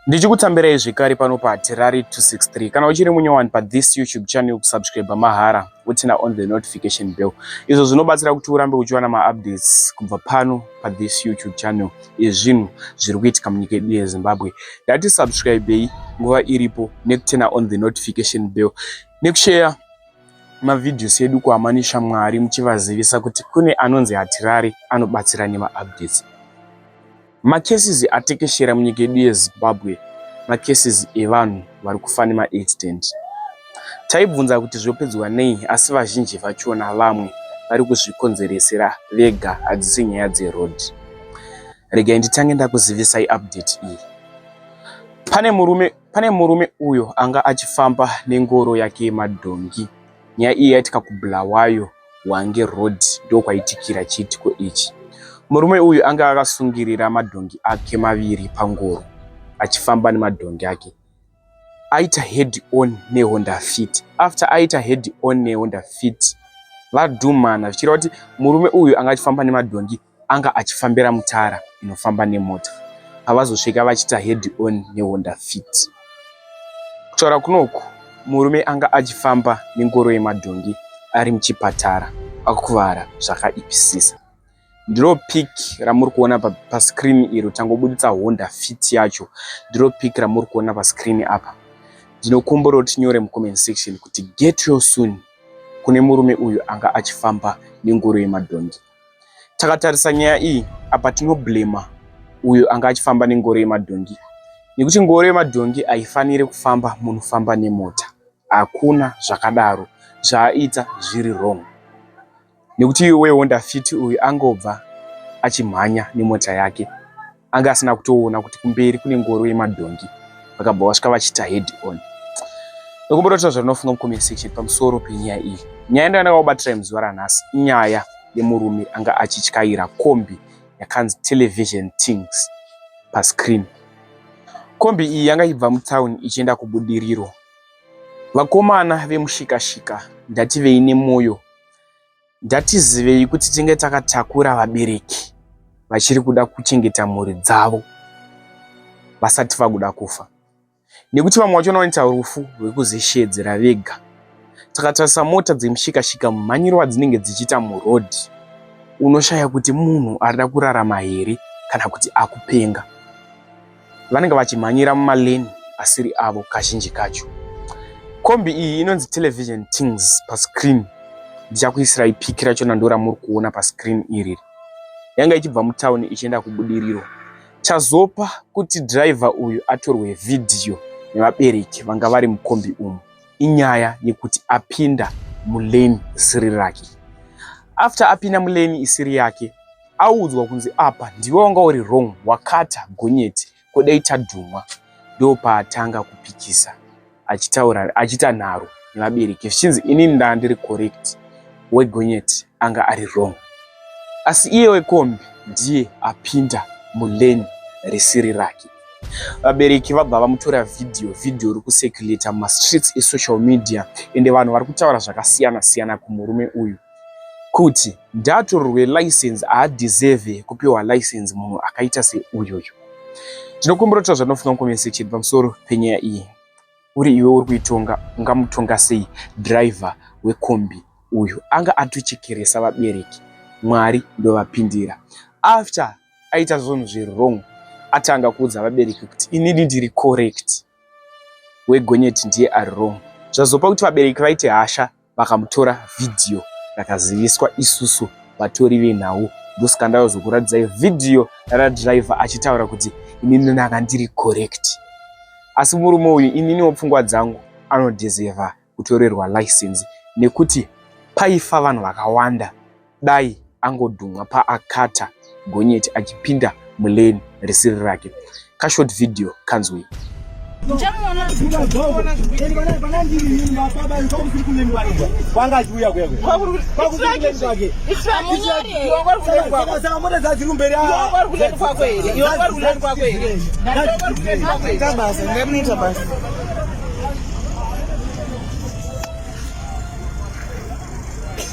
ndichikutsambirai zvekare pano patirari 263 kana uchiri munyowani pathis youtube channel kusubscribe mahara utina on the notification bell izvo zvinobatsira kuti urambe uchiwana maupdates kubva pano pathis youtube channel ezvinhu zviri kuitika munyika yedu yezimbabwe ndati subscribei nguva iripo nekutina on the notification bell nekusheya mavideos edu kuamani shamwari muchivazivisa kuti kune anonzi hatirari anobatsira nemaupdates Macases atekeshera munyika yedu yeZimbabwe macases evanhu vari kufa nemaaccident. Taibvunza kuti zvopedzwa nei asi vazhinji vachona vamwe vari kuzvikonzeresera vega hadzisi nyaya dzeroad. Regai nditange ndakuzivisai update iyi. Pane murume, pane murume uyo anga achifamba nengoro yake yemadhongi. Nyaya iyi yaitika kuBulawayo hwange road ndokwaitikira chiitiko ichi. Murume uyu anga akasungirira madhongi ake maviri pangoro achifamba nemadhongi ake aita head on nehonda fit after aita head on nehonda fit vadhumana zvichireva kuti murume uyu anga achifamba nemadhongi anga achifambira mutara inofamba nemota pavazosvika vachiita head on nehonda fit kutaura kunoku murume anga achifamba nengoro yemadhongi ari muchipatara akuvara zvakaipisisa ndiro pic ramuri kuona pascreen iro tangobuditsa honda fit yacho ndiro pic ramuri kuona pascreen apa ndinokumbura kuti nyore mucomment section kuti get yo soon kune murume uyu anga achifamba nengoro yemadhongi Takatarisa nyaya iyi apa tinoblema uyo anga achifamba nengoro yemadhongi nekuti ngoro yemadhongi haifanire kufamba munofamba nemota. Hakuna zvakadaro zvaaita zviri wrong nekuti iwe wehonda fit uyu angobva achimhanya nemota yake. anga asina kutoona kuti kumberi kune ngoro yemadhongi vakabva vasvika vachiita head on ndokumbototaura zvatinofunga mucomment section pamusoro penyaya iyi nyaya ndo yandakakubatira muzuva ranhasi inyaya yemurume anga achityaira kombi yakanzi television things pascreen kombi iyi yanga ichibva mutown ichienda kubudiriro vakomana vemushikashika ndati veine mwoyo Ndatizivei kuti tinge takatakura vabereki vachiri kuda kuchengeta mhuri dzavo vasati vakuda kufa nekuti vamwe vacho vanoita rufu rwekuzishedzera vega takatarisa mota dzemushikashika mumhanyiro wadzinenge dzichiita murodhi unoshaya kuti munhu arida kurarama here kana kuti akupenga vanenge vachimhanyira mumalane asiri avo kazhinji kacho kombi iyi inonzi television tings pascreen ndichakuisirai piki racho nandora muri kuona pascreen iri yanga ichibva mutauni ichienda kubudiriro chazopa kuti driver uyu atorwe vhidhiyo nevabereki vanga vari mukombi umu inyaya yekuti apinda mulane isiri rake after apinda mulane isiri yake audzwa kunzi apa ndiwe wanga uri wrong wakata gonyeti ko dai tadhumwa ndopaatanga kupikisa achitaura achita nharo nevabereki zvichinzi ini ndaa ndiri correct wegonyeti anga ari wrong asi iye wekombi ndiye apinda muleni risiri rake vabereki vabva vamutora vhidhiyo vhidhiyo iri kusekuleta mumastreets esocial media ende vanhu vari kutaura zvakasiyana siyana kumurume uyu kuti ndaatorerwe license haadeserve kupiwa license munhu akaita seuyoyo. Ndinokumbira kutaura zvandinofunga mucomment section pamusoro penyaya iyi. Uri iwe uri kuitonga ungamutonga sei driver wekombi uyu? Anga atochekeresa vabereki. Mwari ndovapindira. After aita zvunhu zviri wrong atanga kuudza vabereki kuti inini ndiri correct wegonyeti ndiye ari wrong. Zvazopa kuti vabereki vaite hasha vakamutora video rakaziviswa isusu vatori venhau ndosaka ndavazokuratidzai video radriver achitaura kuti inini ndanga ndiri correct asi murume uyu ininiwo pfungwa dzangu anodhezeva kutorerwa license nekuti paifa vanhu vakawanda Dai angodhumwa paakata gonyeti achipinda mulane risiri rake. Ka short video kanzwei.